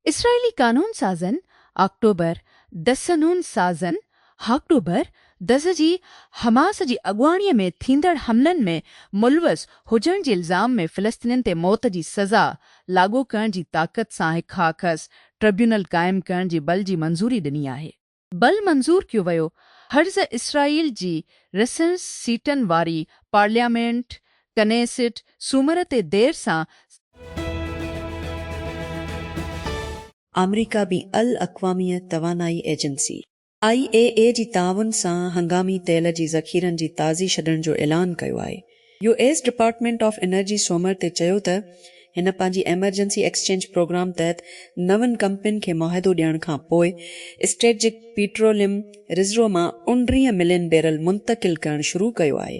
اسرائيلي قانون سازن آڪٽوبر دسنون سازن آڪٽوبر دس جي حماس جي اڳواڻي ۾ ٿيندڙ حملن ۾ ملوث هجڻ جي الزام ۾ فلسطينين تي موت جي سزا لاڳو ڪرڻ جي طاقت سان هڪ هاڪس ٽربيونل قائم ڪرڻ جي بل جي منظوري ڏني آهي. بل منظور ڪيو ويو، هرز اسرائيل جي رسڻ سيٽن واري پارليامينٽ، ڪنيسٽ، سومر تي دير سان س. آمريڪا بين الاقوامي توانائي ايجنسي، آء اي اي، جي تعاون سان هنگامي تيل جي ذخيرن جي تازي ڇڏڻ جو اعلان ڪيو آهي. U S department of energy سومر تي چيو ته هن پنهنجي ايمرجنسي ايڪسچينج پروگرام تحت نون ڪمپنين کي معاهدو ڏيڻ کان پوء اسٽريٽجڪ پيٽروليم رزرو مان اوڻٽيهه ملين بيرل منتقل ڪرڻ شروع ڪيو آهي.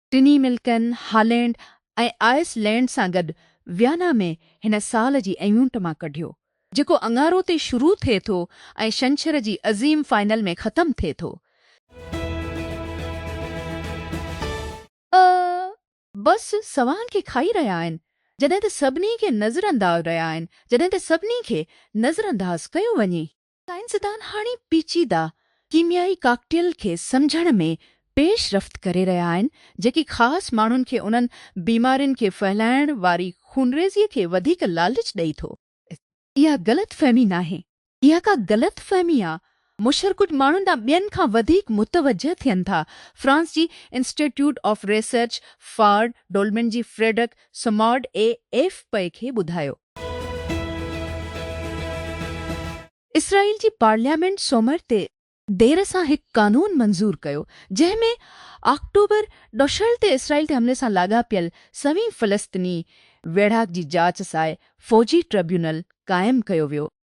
ٽنهي ملڪن هالينڊ ۽ آئس لينڊ سان گڏ ويانا ۾ هن سال جي ايونٽ مان ڪڍيو جيڪو اڱارو تي شروع ٿئي ٿو ۽ شنڇر جي عظيم فائنل ۾ ختم ٿئي ٿو. اهي بس سوان کي کائي رهيا آهن جڏهن ته سڀني کي نظرانداز رهيا آهن جڏهن ته سڀني کي نظرانداز ڪيو وڃي. سائنسدان هاڻي پيچيده ڪيميائي ڪاڪٽيل کي سمجهڻ ۾ پيش رفت ڪري رهيا آهن، جيڪي خاص ماڻهن کي انهن بيمارين کي ڦهلائڻ واري خونريزيء کي وڌيڪ لالچ ڏئي ٿو. اها غلط فهمي ناهي، اها ڪا غلط فهمي آ، مشر ڪجهه ماڻهن ڏانهن ٻين کان وڌيڪ متوجهه ٿين ٿا. فرانس جي institute of research for development جي فريڊڪ سمارڊ اي ايف پي کي ٻڌايو. اسرائيل جي پارليامينٽ سومر تي دير سان هڪ قانون منظور ڪيو جنهن ۾ آڪٽوبر ڏشهر تي اسرائيل تي حملي سان لاڳاپيل سوين فلسطني ويڙهاڪ جي جاچ ساء فوجي ٽربيونل قائم ڪيو ويو.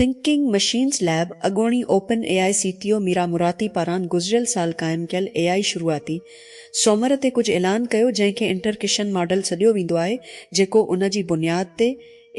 ٿنڪنگ مشينز ليب اڳوڻي open A I C T O Mira Murati پاران گذريل سال قائم ڪيل اي آء شروعاتي سومر تي ڪجهه اعلان ڪيو جنهن کي انٽرڪشن ماڊل سڏيو ويندو آهي جيڪو ان جي بنياد تي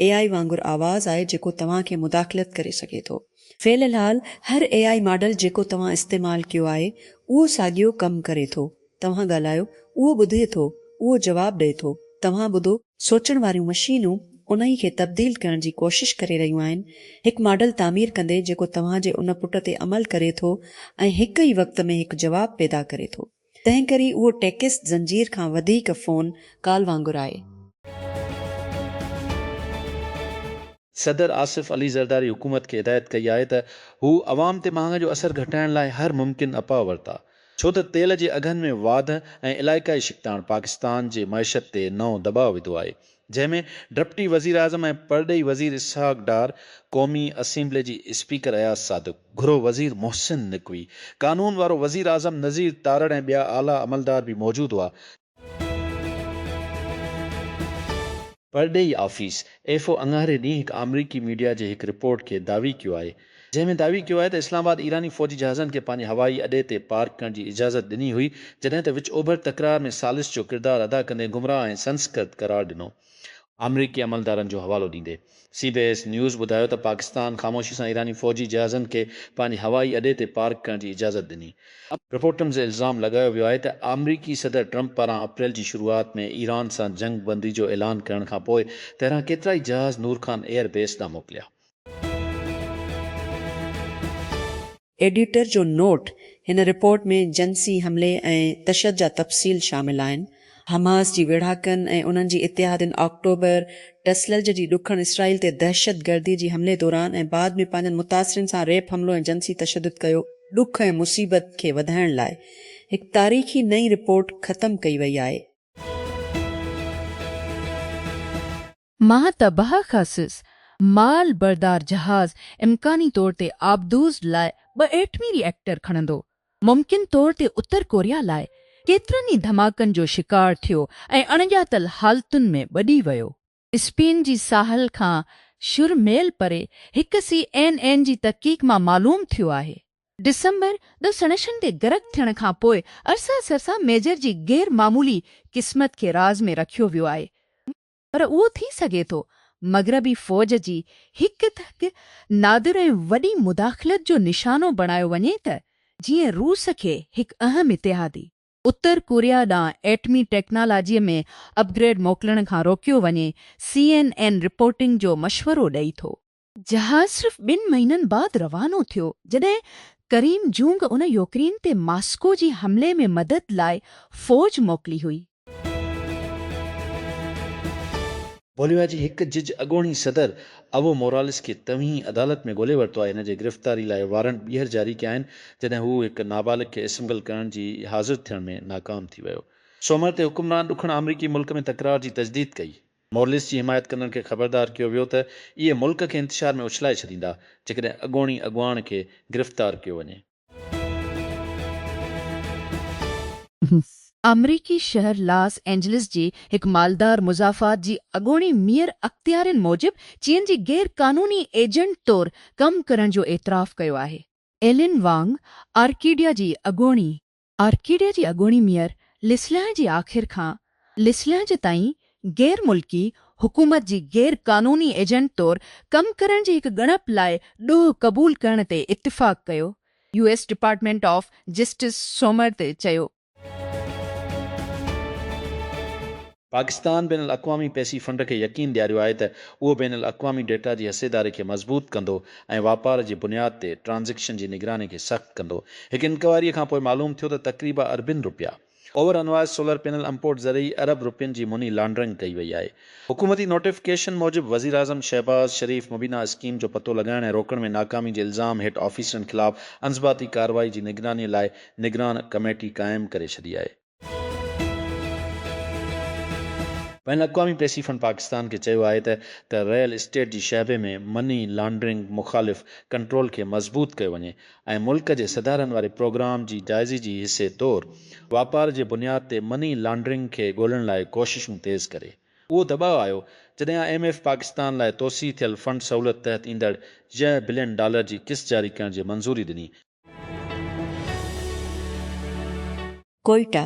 اي آء وانگر آواز آهي جيڪو توهان کي مداخلت ڪري سگهي ٿو. في الحال هر اي آء ماڊل جيڪو توهان استعمال ڪيو آهي اهو ساڳيو ڪم ڪري ٿو. توهان ڳالهايو، اهو ٻڌي ٿو، اهو جواب ڏئي ٿو، توهان ٻڌو. سوچڻ واريون مشينون انهي کي تبديل ڪرڻ جي ڪوشش ڪري رهيون آهن، هڪ ماڊل تعمير ڪندي جيڪو توهان جي ان پٽ تي عمل ڪري ٿو ۽ هڪ ئي وقت ۾ هڪ جواب پيدا ڪري ٿو. تنهن ڪري اهو ٽيڪسٽ زنجير کان وڌيڪ فون ڪال وانگر آهي. صدر آصف علي زرداري حڪومت کي هدايت ڪئي آهي ته هو عوام تي مهانگي جو اثر گهٽائڻ لاء هر ممڪن اپاء ورتا ڇو ته تيل جي اگهن ۾ واڌ ۽ علائقائي ڇڪتاڻ پاڪستان جي معيشت تي نئون دٻاء وڌو آهي جنهن ۾ ڊپٽي وزيراعظم ۽ پرڏيهي وزير اسحاق ڊار، قومي اسيمبلي جي اسپيڪر اياز صادق، گهرو وزير محسن نقوي، قانون وارو وزيراعظم نذير تارڙ ۽ ٻيا اعليٰ عملدار به موجود هئا، پرڏيهي آفيس، ايف او، اڱاري ڏينهن هڪ آمريڪي ميڊيا جي هڪ رپورٽ کي دعوي ڪيو آهي، جنهن ۾ دعوي ڪيو آهي ته اسلام آباد ايراني فوجي جهازن کي پنهنجي هوائي اڏي تي پارڪ ڪرڻ جي اجازت ڏني هئي، جڏهن ته وچ اوڀر تڪرار ۾ ثالث جو ڪردار ادا ڪندي گمراهه ۽ سنسڪرت قرار ڏنو. آمريڪي عملدارن جو حوالو ڏيندي سي بي ايس نيوز ٻڌايو ته پاڪستان خاموشي سان ايراني فوجي جهازن کي پنهنجي هوائي اڏي تي پارڪ ڪرڻ جي اجازت ڏني. رپورٽن تي الزام لڳايو ويو آهي ته آمريڪي صدر ٽرمپ پاران اپريل جي شروعات ۾ ايران سان جنگ بندي جو اعلان ڪرڻ کانپوء تهران ڪيترائي جهاز نور خان ايئر بيس ڏانهن موڪليا. ايڊيٽر جو نوٽ، هن رپورٽ ۾ جنسي حملي ۽ تشد جا تفصيل شامل آهن. حماس جي ويڙهاڪن ۽ انهن جي اتحادين آڪٽوبر، ٽسلرج جي ڏکڻ اسرائيل تي دهشتگردي جي حملي دوران ۽ بعد ۾ پنهنجن متاثرين سان ريپ حملو ۽ جنسي تشدد ڪيو، ڏک ۽ مصيبت کي وڌائڻ لاء هڪ تاريخي نئين رپورٽ ختم ڪئي وئي آهي. مان ته بهه خصيص مال بردار جهاز امڪاني طور تي آبدوز لاء ٻه ايٽمي ري ايڪٽر کڻندو، ممڪن طور تي اتر ڪوريا لاء ڪيترن ئي ڌماڪن جو شڪار ٿيو ۽ اڻڄاتل حالتن ۾ ٻڏي ويو. اسپين جي ساحل کان شھر ميل پري ھڪ سي اين اين جي تحقيق مان معلوم ٿيو آھي. ڊسمبر ڏھھ سڻشن تي غرق ٿيڻ کان پوء ارسا سرسا ميجر جي غير معمولي قسمت کي راز ۾ رکيو ويو آھي. پر اهو ٿي سگهي ٿو مغربي فوج جي هڪ ته هڪ نادر ۽ وڏي مداخلت جو نشانو بڻايو وڃي ته جيئن روس کي هڪ اهم اتحادي، اتر ڪوريا ڏانهن ايٽمي ٽيڪنالاجيء ۾ اپ گريڊ موڪلڻ کان روڪيو وڃي، سي اين اين رپورٽنگ جو مشورو ڏئي ٿو. جهاز صرف ٻن مهينن بعد روانو ٿيو، جڏهن ڪريم جونگ ان يوڪرين تي ماسڪو جي حملي ۾ مدد لاء فوج موڪلي هئي. بوليويا جي هڪ جج اڳوڻي صدر ايوو موراليس کي توهين عدالت ۾ ڳولي ورتو آهي، هن جي گرفتاري لاء وارنٽ ٻيهر جاري ڪيا آهن، جڏهن هو هڪ نابالغ کي اسمگل ڪرڻ جي حاضر ٿيڻ ۾ ناڪام ٿي ويو. سومر تي حڪمران ڏکڻ آمريڪي ملڪ ۾ تڪرار جي تجديد ڪئي. مورليس جي حمايت ڪندڙن کي خبردار ڪيو ويو ته اهي ملڪ کي انتشار ۾ اڇلائي ڇڏيندا جيڪڏهن اڳوڻي اڳواڻ کي گرفتار ڪيو وڃي. آمريڪي شهر لاس اينجلس جي هڪ مالدار مضافات جي اڳوڻي ميئر اختيارين موجب چين جي غير قانوني ايجنٽ طور ڪم ڪرڻ جو اعتراف ڪيو آهي. ايلين وانگ آرڪيڊيا جي اڳوڻي آرڪيڊيا جي اڳوڻي ميئر لسليان جي آخر کان لسليان جي تائين غير ملڪي حڪومت جي غير قانوني ايجنٽ طور ڪم ڪرڻ جي هڪ ڳڻپ لاء ڏوهه قبول ڪرڻ تي اتفاق ڪيو، U S department of justice سومر تي چيو. پاڪستان بين الاقوامي پئسي فنڊ کي يقين ڏياريو آهي ته اهو بين الاقوامي ڊيٽا جي حصيداري کي مضبوط ڪندو ۽ واپار جي بنياد تي ٽرانزيڪشن جي نگراني کي سخت ڪندو. هڪ انڪوائري کان پوء معلوم ٿيو ته تقريبا اربين رپيا over invoice solar panel import ذريعي ارب رپين جي مني لانڊرنگ ڪئي وئي آهي. حڪومتي نوٽيفڪيشن موجب وزيراعظم شهباز شريف مبينا اسڪيم جو پتو لڳائڻ ۽ روڪڻ ۾ ناڪامي جي الزام هيٺ آفيسرن خلاف انضباطي ڪارروائي جي نگراني لاء نگران ڪميٽي قائم ڪري ڇڏي آهي. بين الاقوامي پيسي فنڊ پاڪستان کي چيو آهي ته ته ريئل اسٽيٽ جي شعبي ۾ مني لانڊرنگ مخالف ڪنٽرول کي مضبوط ڪيو وڃي ۽ ملڪ جي سڌارن واري پروگرام جي جائزي جي حصي طور واپار جي بنياد تي مني لانڊرنگ کي ڳولڻ لاء ڪوششون تيز ڪري. اهو دٻاء آيو جڏهن آء ايم ايف پاڪستان لاء توسيع ٿيل فنڊ سهولت تحت ايندڙ يهه بلين ڊالر جي قسط جاري ڪرڻ جي منظوري ڏني، ڪوئيٽا،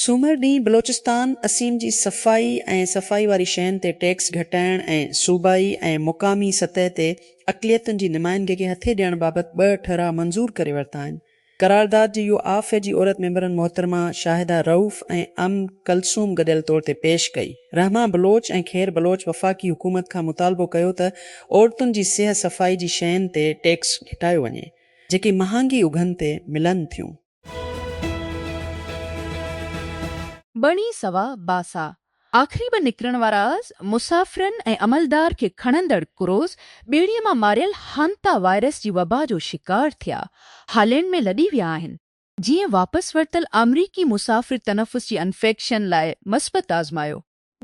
سومر ڏينهن بلوچستان اسيم جي صفائي ۽ صفائي واري شين تي ٽيڪس گهٽائڻ ۽ صوبائي ۽ مقامي سطح تي اقليتن جي نمائندگي کي هٿي ڏيڻ بابت ٻه ٺهراء منظور ڪري ورتا آهن. قرارداد جي اهو آء ف جي عورت ميمبرن محترمه شاهده رئوف ۽ ام ڪلثوم گڏيل طور تي پيش ڪئي. رحمه بلوچ ۽ خير بلوچ وفاقي حڪومت کان مطالبو ڪيو ته عورتن جي سيهه صفائي جي شين تي ٽيڪس گهٽايو وڃي. جيڪي مهانگي اگهن تي ملن ٿيون. ٻڻي سوا باسا، آخري ٻه نڪرڻ وارا مسافرن ۽ عملدار کي کڻندڙ ڪروز ٻيڙيء مان ماريل هانتا وائرس جي وبا جو شڪار ٿيا هالينڊ ۾ لڏي ويا آهن، جيئن واپس ورتل آمريڪي مسافر تنفس جي انفيڪشن لاء مثبت آزمايو.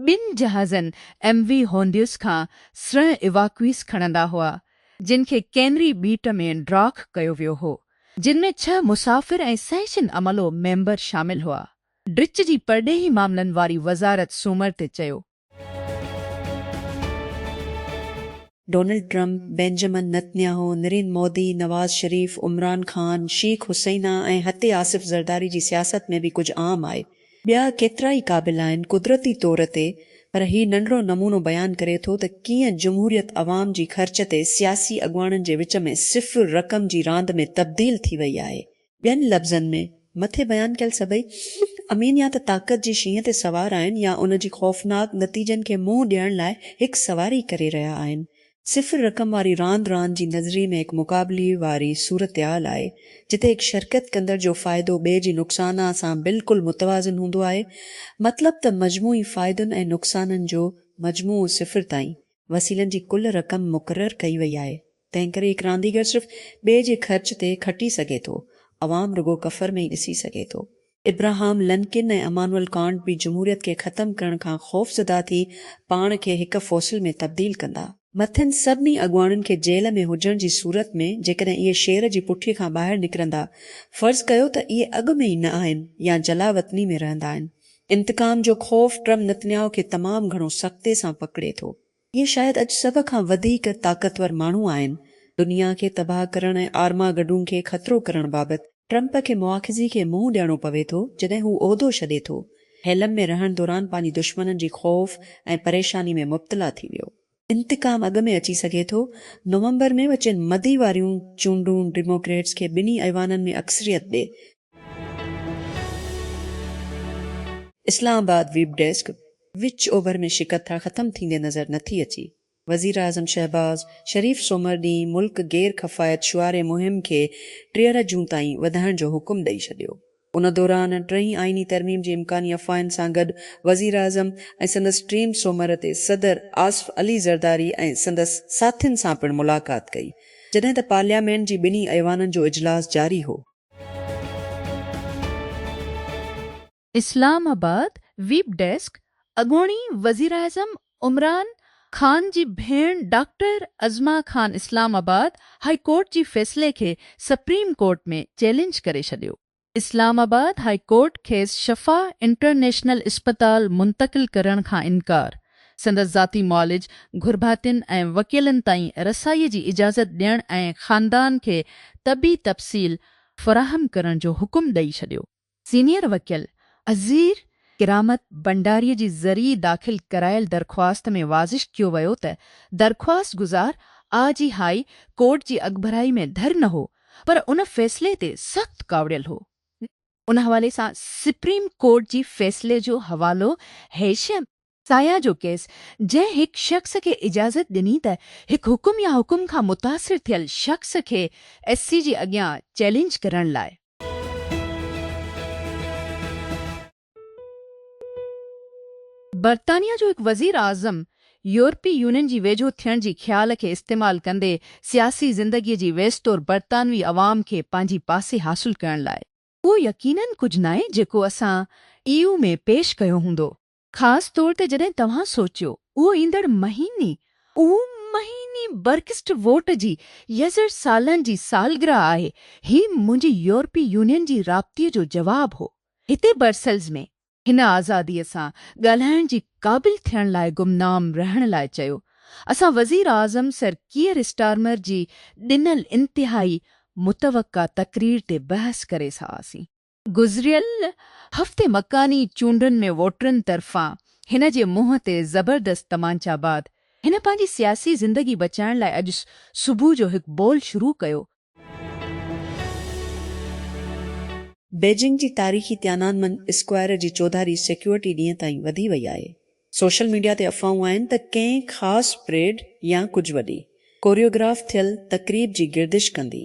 ٻن جهازن ايم وي هونڊيوس کان سرنهن ايواڪويس کڻندا هئا، جن کي ڪينري ٻيٽ ۾ ڊاڪ ڪيو ويو هو، جن ۾ ڇهه مسافر ۽ سهشن عملو ميمبر شامل هئا. ڊچ جي پرڏيهي معاملن واري وزارت سومر تي چيو. Donald Trump, Benjamin Netanyahu, Narendra Modi, Nawaz Sharif, Imran Khan, Sheikh Hasina ۽ هتي آصف زرداري جي سياست ۾ به ڪجهه عام آهي. ٻيا ڪيترائي قابل آهن قدرتي طور تي پر هي ننڍڙو نمونو بيان ڪري ٿو ته ڪيئن جمهوريت عوام جي خرچ تي سياسي اڳواڻن جي وچ ۾ صفر رقم جي راند ۾ تبديل ٿي وئي آهي. ٻين لفظن ۾ مٿي بيان ڪيل سڀئي امين يا ته طاقت جي شينهن تي سوار آهن يا ان جي خوفناڪ نتيجن کي منهن ڏيڻ لاء هڪ سواري ڪري رهيا آهن صفر رقم واري راند راند جي نظري ۾ هڪ مقابلي واري صورتحال آهي، جتي هڪ شرڪت ڪندڙ جو فائدو ٻئي جي نقصانء سان بلڪل متوازن هوندو آهي، مطلب ته مجموعي فائدن ۽ نقصانن جو مجموعو صفر تائين، وسيلن جي ڪل رقم مقرر ڪئي وئي آهي، تنهنڪري هڪ رانديگر صرف ٻئي جي خرچ تي کٽي سگهي ٿو، عوام رڳو ڪفر ۾ ئي ڏسي سگهي ٿو. ابراهام لنڪن ۽ امانوئل ڪانٽ به جمهوريت کي ختم ڪرڻ کان خوفزده ٿي پاڻ کي هڪ فوسل ۾ تبديل ڪندا. مٿين سڀني اڳواڻن کي جيل ۾ هجڻ جي صورت ۾ جيڪڏهن اهي شير جي پٺي کان ٻاهر نڪرندا، فرض ڪيو ته اهي اڳ ۾ ئي نه آهن يا جلاوطني ۾ رهندا آهن. انتقام جو خوف ٽرم نتنياهو کي تمام گهڻو سختي سان پڪڙي ٿو. اهي شايد اڄ سڀ کان وڌيڪ طاقتور ماڻهو آهن. دنيا کي تباهه ڪرڻ ۽ آرماگڊون کي خطرو ڪرڻ بابت ٽرمپ کي مواخذي کي منهن ڏيڻو پوي ٿو جڏهن هو عهدو ڇڏي ٿو. هيلم ۾ رهڻ دوران پنهنجي دشمنن جي خوف ۽ پريشاني ۾ مبتلا ٿي ويو. انتقام اڳ ۾ اچي سگهي ٿو. نومبر ۾ وچين مدي واريون چونڊون ڊيموڪريٽس کي ٻنهي ايوانن ۾ اڪثريت ڏي اسلام آباد، ويب ڊيسڪ، وچ اوڀر ۾ شڪتا ختم ٿيندي نظر نٿي اچي، وزيراعظم شهباز شريف سومر ڏينهن ملڪ گير ڪفايت شعاري مهم کي ٽيهر جون تائين وڌائڻ جو حڪم ڏئي ڇڏيو، ان دوران ٽئين آئيني ترميم جي امڪاني افواهن سان گڏ وزيراعظم ۽ سندس ٽيم سومر تي صدر آصف علي زرداري ۽ سندس ساٿين سان پڻ ملاقات ڪئي، جڏهن ته پارليامينٽ جي ٻنهي ايوانن جو اجلاس جاري هو. اسلام آباد، ويب ڊيسڪ، اڳوڻي وزيراعظم عمران خان جي ڀيڻ doctor Uzma Khan Islamabad high court جي فيصلي کي سپريم ڪورٽ ۾ چئلينج ڪري ڇڏيو، اسلام آباد هاء ڪورٽ کيس شفا انٽرنيشنل اسپتال منتقل ڪرڻ کان انڪار، سندس ذاتي معالج، گهرڀاتين ۽ وڪيلن تائين رسائيء جي اجازت ڏيڻ ۽ خاندان کي طبي تفصيل فراهم ڪرڻ جو حڪم ڏئي ڇڏيو. سينيئر وڪيل عزير ڪرامت ڀنڊاري جي ذريعي داخل ڪرايل درخواست ۾ واضح ڪيو ويو ته درخواست گذار آء جي هاء ڪورٽ جي اڳڀرائي ۾ ڌر نه هو پر ان فيصلي تي سخت ڪاوڙيل هو. ان حوالي سان سپريم ڪورٽ جي فيصلي جو حوالو هيشم سايا جو ڪيس جنهن هڪ شخص کي اجازت ڏني ته هڪ حڪم يا حڪم کان متاثر ٿيل شخص کي ايس سي جي اڳيان چئلينج ڪرڻ لاء برطانيا جو هڪ وزير اعظم يورپي يونين جي ويجهو ٿيڻ جي خيال کي استعمال ڪندي سياسي زندگيء جي ويستور برطانوي عوام کي پنهنجي پاسي حاصل ڪرڻ لاء. اهو يقيناً ڪجهه ناهي جيڪو اسان اي يو ۾ پيش ڪيو هوندو. خاص طور تي جڏهن توهان سوچيو اهو ايندڙ مهيني اهو مهيني برڪسٽ ووٽ جي يزر سالن جي سالگرهه آهي. هي منهنجي يورپي يونين جي رابطي جو جواب هو. هتي برسلز ۾ هن آزاديء سان ڳالهائڻ جي قابل ٿيڻ لاء گمنام رهڻ لاء چيو. اسان وزيراعظم سر ڪيئر اسٽارمر جي ڏنل انتهائي متوقع تقرير تي بحث ڪري سهاسين. گذريل هفتي مڪاني چونڊن ۾ ووٽرن طرفان هن جي منهن تي زبردست تمانچا بعد هن پنهنجي سياسي زندگي بچائڻ لاء اڄ صبح جو هڪ بول شروع ڪيو. بيجنگ جي تاريخي تيانان من اسڪوائر جي چوڌاري سيڪيورٽي ڏينهن تائين وڌي وئي آهي. سوشل ميڊيا تي افواهون آهن ته ڪنهن خاص پريڊ يا ڪجهه وڏي ڪوريوگراف ٿيل تقريب جي گردش ڪندي.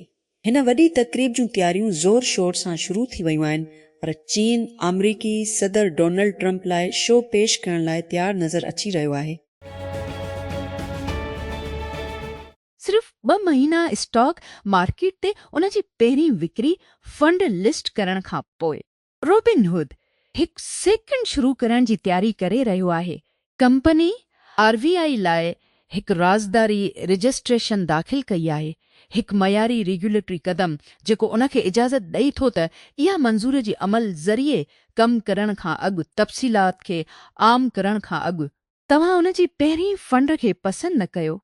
هن وڏي تقريب جون تياريون زور شور سان شروع ٿي ويون آهن پر چين آمريڪي صدر ڊونلڊ ٽرمپ لاء شو پيش ڪرڻ لاء تيار نظر اچي رهيو آهي. صرف ٻه مهينا اسٽاڪ مارڪيٽ تي ان جي پهرين وڪري فنڊ لسٽ ڪرڻ کان پوء. روبن هوڊ هڪ سيڪنڊ شروع ڪرڻ جي تياري ڪري رهيو آهي. ڪمپني آر بي آء لاء هڪ رازداري رجسٽريشن داخل ڪئي آهي، هڪ معياري ريگيوليٽري قدم جيڪو ان کي اجازت ڏئي ٿو ته اها منظوري جي عمل ذريعي ڪم ڪرڻ کان اڳ تفصيلات کي عام ڪرڻ کان اڳ توهان ان جي پهرين فنڊ کي پسند نه ڪيو.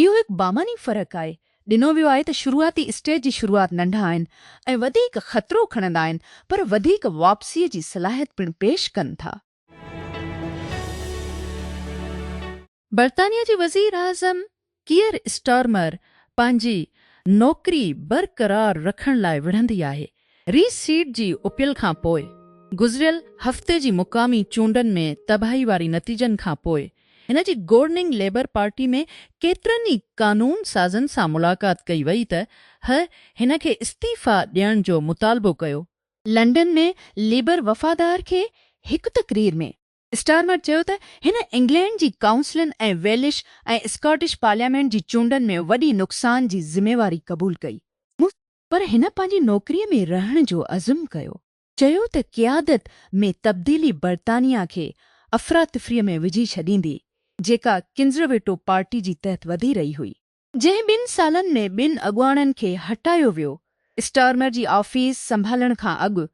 اهو هڪ بامعني فرق آهي. ڏنو ويو آهي ته شروعاتي اسٽيج جي شروعات ننڍا آهن ۽ وڌيڪ خطرو کڻندا آهن پر وڌيڪ واپسيء جي صلاحيت پڻ پيش ڪن ٿا. برطانيا جي وزير اعظم ڪيئر اسٽارمر پنهنجي نوڪري برقرار رکڻ لاء وڙهندي آهي ريس سيٽ جي اپيل کان پوء گذريل هفتي جي مقامي چونڊن ۾ تباهي واري نتيجن کان پوء هن جي گورننگ ليبر پارٽي ۾ ڪيترن ئي قانون سازن سان ملاقات ڪئي وئي ته هه هن کي استعيفيٰ ڏيڻ جو مطالبو ڪيو. لنڊن ۾ ليبر وفادار کي هڪ تقرير ۾ اسٽارمر چيو ته هن انگلينڊ جي ڪائونسلن ۽ ويلش ۽ اسڪاٽش پارليامينٽ جي چونڊن ۾ وڏي نقصان جي ذميواري قبول ڪئي، مون پر هن پنهنجي نوڪريء ۾ رهڻ جو عزم ڪيو. چيو ته قيادت ۾ تبديلي برطانيا کي افراتفريء ۾ وجهي ڇڏيندي، جيڪا ڪنزرويٽو پارٽي جي تحت وڌي رهي هئي. جنهن ٻن سالن ۾ ٻن اڳواڻن کي هٽايو ويو، اسٽارمر جي آفيس سنڀالڻ کان اڳ.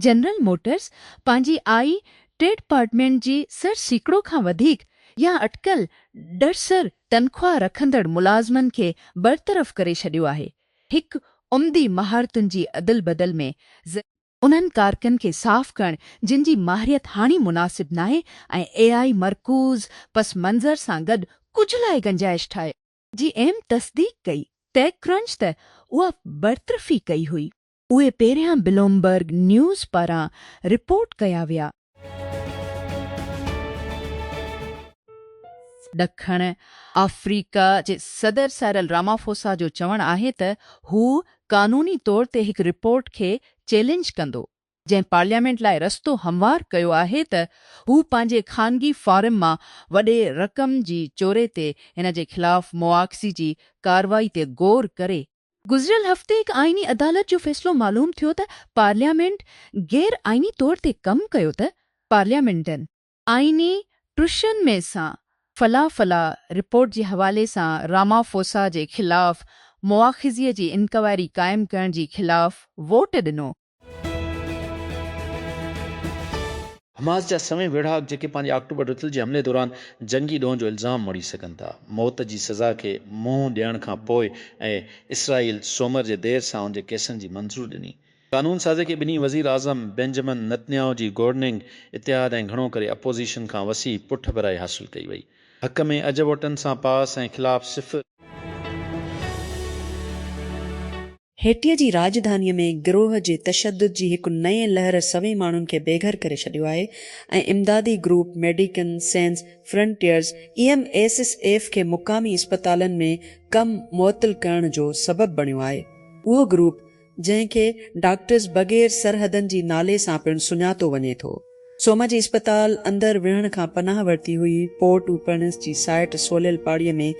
جنرل موٽرز پنهنجي آء ٽي ڊپارٽمينٽ جي سر سيڪڙو کان وڌيڪ يا اٽڪل ڏهسر تنخواهه رکندڙ ملازمن کي برطرف ڪري ڇڏيو آهي، هڪ عمدي مهارتن جي ادل بدل ۾ ذريعي. انهن ڪارڪن کي صاف ڪرڻ جن جي ماهريت هاڻي مناسب ناهي ۽ اي آء مرڪوز پس منظر سان گڏ ڪجهه لاء گنجائش ٺاهي. جي ايم تصديق ڪئي، ٽيڪ ڪرنچ ته اها برطرفي ڪئي هئي. اهي پهريان بلومبرگ نيوز پاران رپورٽ ڪيا ويا. ڏکڻ آفريڪا جي صدر سائرل رامافوسا جو چوڻ آهي ته هو قانوني طور تي هڪ رپورٽ کي چئلينج ڪندو، جنهن پارليامينٽ لاء رستو هموار ڪيو آهي ته هو پنهنجي خانگي فارم مان وڏي رقم جي چوري تي هن جي خلاف مواخذي جي ڪارروائي تي غور ڪري. گذريل هفتي هڪ آئيني عدالت جو فيصلو معلوم ٿيو ته پارليامينٽ غير آئيني طور تي ڪم ڪيو ته پارليامينٽن آئيني ٽرشن مي سان فلا فلا رپورٽ جي حوالي سان رامافوسا جي خلاف مواخذي جي انڪوائري قائم ڪرڻ جي خلاف ووٽ ڏنو حماس جا سوين ويڙهاڪ جيڪي پنهنجي آڪٽوبر رٿل جي حملي دوران جنگي ڏوهه جو الزام مڙهي سگهن ٿا موت جي سزا کي منهن ڏيڻ کان پوء ۽ اسرائيل سومر جي دير سان ان جي ڪيسن جي منظور ڏني قانون سازي کي ٻنهي وزير اعظم بينجمن نتنياهو جي گورننگ اتحاد ۽ گهڻو ڪري اپوزيشن کان وسيع پٺڀرائي حاصل ڪئي وئي حق ۾ اجهه ووٽن سان پاس ۽ خلاف صفر. هيٽيء جي راڄڌانيء ۾ گروهه جي تشدد جي هڪ نئين لهر سوين ماڻهن کي بيگهر ڪري ڇڏيو آهي ۽ امدادي گروپ ميڊيڪن سينز فرنٽيئرز اي ايم ايس ايس ايف کي مقامي اسپتالن ۾ ڪم معطل ڪرڻ جو سبب بڻيو آهي اهو گروپ جنهن کي ڊاڪٽرز بغير سرحدن جي نالي سان پڻ سڃاتو وڃي ٿو سوما جي اسپتال اندر ويهڻ کان پناهه ورتي هئي پورٽ اوپرنس جي سائٽ سوليل پاڙي ۾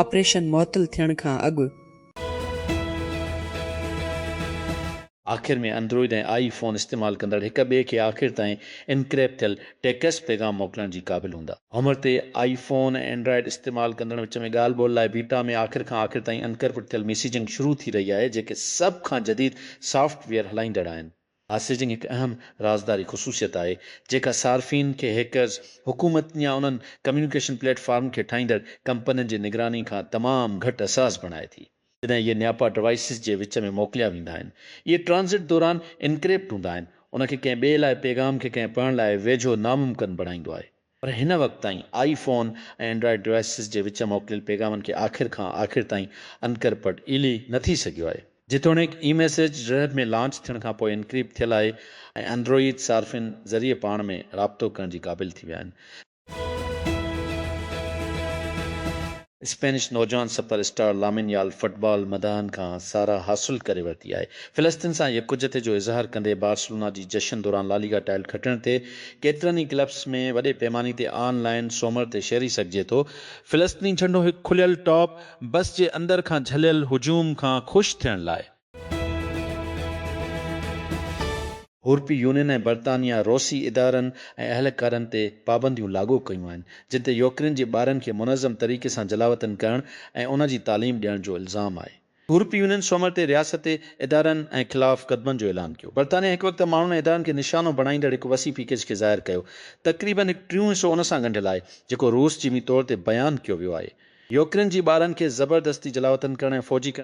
آپريشن معطل ٿيڻ کان اڳ. آخر ۾ اندروئيڊ ۽ آئي فون استعمال ڪندڙ هڪ ٻئي کي آخر تائين انڪريپ ٿيل ٽيڪسٽ پيغام موڪلڻ جي قابل هوندا. عمر تي آئي فون ۽ اينڊرائيڊ استعمال ڪندڙن وچ ۾ ڳالهه ٻولهه لاء بيٽا ۾ آخر کان آخر تائين انڪرپٽ ٿيل ميسيجنگ شروع ٿي رهي آهي جيڪي سڀ کان جديد سافٽ ويئر هلائيندڙ آهن. ميسيجنگ هڪ اهم رازداري خصوصيت آهي، جيڪا صارفين کي هيڪرز، حڪومت يا انهن ڪميونيڪيشن پليٽ فارم کي ٺاهيندڙ ڪمپنين جي نگراني کان تمام گهٽ حساس بڻائي ٿي. جڏهن اهي نياپا ڊوائيسز جي وچ ۾ موڪليا ويندا آهن، اهي ٽرانزٽ دوران انڪريپٽ هوندا آهن، ان کي ڪنهن ٻئي لاء پيغام کي ڪنهن پڙهڻ لاء ويجهو ناممڪن بڻائيندو آهي. پر هن وقت تائين آئي فون ۽ اينڊرائيڊ ڊوائسز جي وچ موڪليل پيغامن کي آخر کان آخر تائين انڪرپٽ ايلي نه ٿي سگهيو آهي. جيتوڻيڪ اي ميسيج رهب ۾ لانچ ٿيڻ کان پوء انڪريپٽ ٿيل آهي ۽ اندروئيد صارفين ذريعي پاڻ ۾ رابطو ڪرڻ جي قابل ٿي ويا آهن. اسپينش نوجوان super star Lamine Yamal football مداحن کان ساراهه حاصل ڪري ورتي آهي. فلسطين سان يڪجهتي جو اظهار ڪندي بارسلونا جي جشن دوران لاليگا ٽائل کٽڻ تي ڪيترن ئي ڪلبس ۾ وڏي پيماني تي آن لائين سومر تي شيري سگهجي ٿو، فلسطيني جهنڊو هڪ کليل ٽاپ بس جي اندر کان جهليل هجوم کان خوش ٿيڻ لاء. يورپي يونين ۽ برطانيا روسي ادارن ۽ اهلڪارن تي پابنديون لاڳو ڪيون آهن، جن تي يوڪرين جي ٻارن کي منظم طريقي سان جلاوطن ڪرڻ ۽ ان جي تعليم ڏيڻ جو الزام آهي. يورپي يونين سومر تي رياستي ادارن ۽ خلاف قدمن جو اعلان ڪيو. برطانيا هڪ وقت ماڻهن ۽ ادارن کي نشانو بڻائيندڙ هڪ وسيع پيڪيج کي ظاهر ڪيو. تقريبن هڪ ٽيون حصو ان سان ڳنڍيل آهي، جيڪو روس جي وين طور تي بيان ڪيو ويو آهي. يوڪرين جي ٻارن کي زبردستي جلاوطن ڪرڻ ۽ فوجي ڪرڻ.